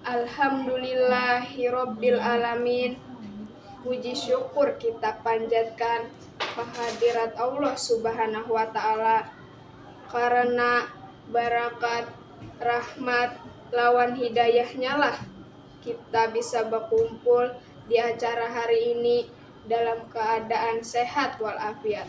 Alhamdulillahirobbilalamin puji syukur kita panjatkan kehadirat Allah subhanahu wa ta'ala karena barakat rahmat lawan hidayahnya lah kita bisa bakumpul di acara hari ini dalam keadaan sehat walafiat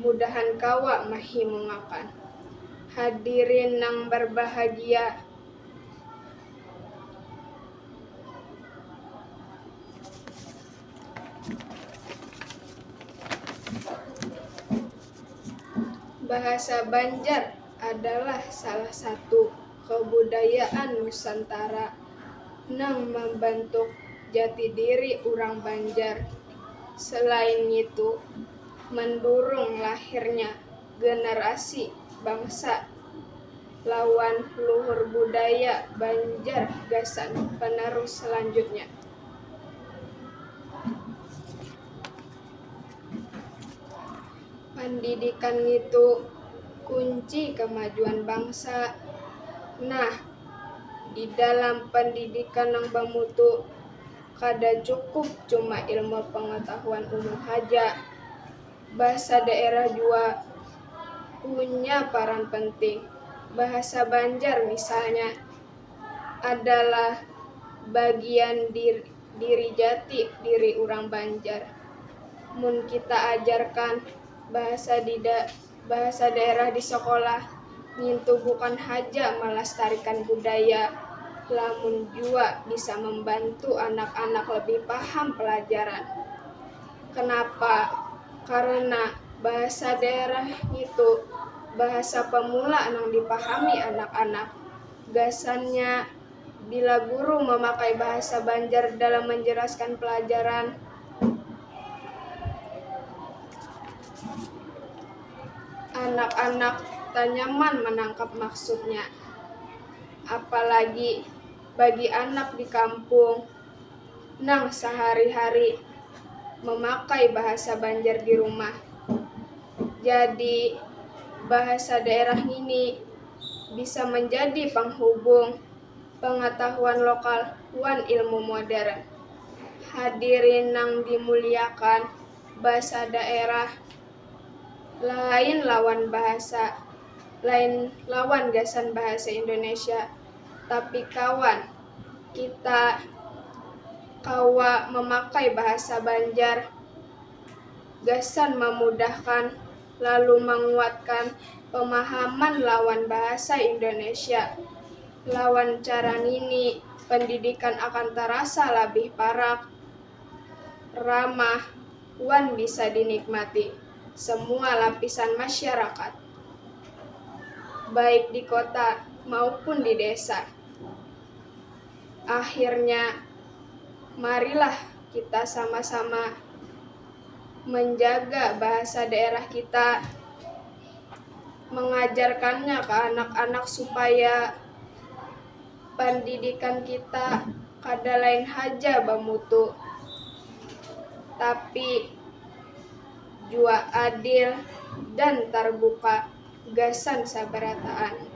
mudahan kawa mahimungakan hadirin nang barbahagia. Bahasa Banjar adalah salah satu. Kabudayaan Nusantara nang mambantuk jati diri urang Banjar. Selain ngitu, mandurung lahirnya generasi bangsa lawan luhur budaya Banjar gasan penerus selanjutnya. Pandidikan ngitu kunci kamajuan bangsa. Nah, di dalam pandidikan nang bamutu, kada cukup cuma ilmu pangatahuan umum haja. Bahasa daerah jua punya paran penting, bahasa Banjar misalnya. adalah bagian diri jati diri urang banjar mun kita ajarkan bahasa bahasa daerah di sekolah ngintu bukan haja malastarikan budaya lamun jua bisa mambantu anak-anak lebih paham pelajaran kenapa karena bahasa daerah ngitu bahasa pemula nang dipahami anak-anak. Gasannya, bila guru mamakai bahasa Banjar dalam manjelaskan pelajaran, anak-anak tanyaman manangkap maksudnya. Apalagi bagi anak di kampung nang sahari-hari mamakai bahasa Banjar di rumah. Jadi, bahasa daerah ngini. bisa manjadi panghubung pangatahuan lokal wan ilmu modern. Hadirin nang dimuliakan, basa daerah lain lawan bahasa lain lawan gasan bahasa Indonesia, tapi kawan, kita kawa mamakai bahasa Banjar gasan mamudahkan. lalu manguatkan pemahaman lawan bahasa Indonesia, lawan cara ngini pendidikan akan tarasa labih parak, ramah, wan bisa dinikmati semua lapisan masyarakat, baik di kota maupun di desa. Akhirnya, marilah kita sama-sama menjaga bahasa daerah kita, mengajarkannya ke anak-anak supaya pendidikan kita kada lain haja bamutu, tapi jua adil dan tarbuka gasan sabarataan.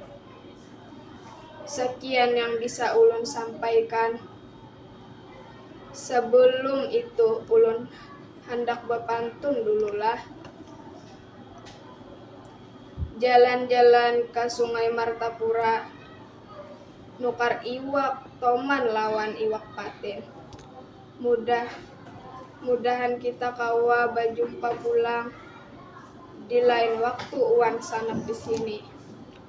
Sekian yang bisa ulun sampaikan. Sebelum itu ulun handak bapantun dulu lah. Jalan-jalan ka Sungai Martapura nukar iwak toman lawan iwak patin. Mudah mudahan kita kawa bajumpa pulang di lain waktu wan sanak di sini.